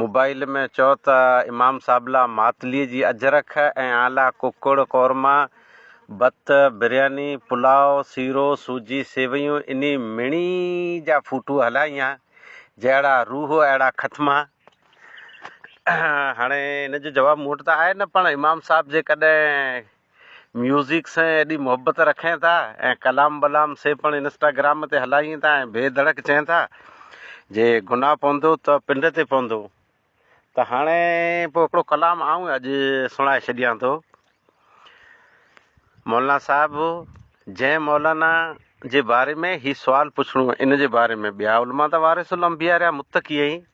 Mobile ۾ چئو ته امام صاحب لا ماتلي جي اجرڪ ۽ آء لا ڪڪڙ قورما، بت، برياني، پلاء، سيرو، سوجي، سيويون انهي مڻي جا ڦوٽو هلائين ها جهڙا روح اهڙا ختما. هاڻي ان جو جواب مون وٽ ته آهي نه پر امام صاحب جيڪڏهن ميوزڪ سان ايڏي محبت رکين ٿا ۽ ڪلام بلام سي پڻ انسٽاگرام تي هلائين ٿا ۽ بي ڌڙڪ چين ٿا جي گناهه پوندو ته پنڊ تي پوندو ته هاڻي پوء هڪڙو ڪلام آئون اڄ سڻائي ڇڏيان ٿو مولانا صاحب جنهن مولانا جي باري ۾ هي سوال پڇڻو ان جي باري ۾ ٻيا علماء ته وارث الانبياء رهيا متقي ۽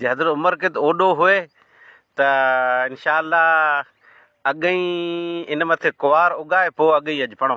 جي حضرت عمر ڪت اوڏو هئي ته انشاء الله اڳ ئي ان مٿي ڪوار اگائي پوء اڳ ئي اڄ پڻو.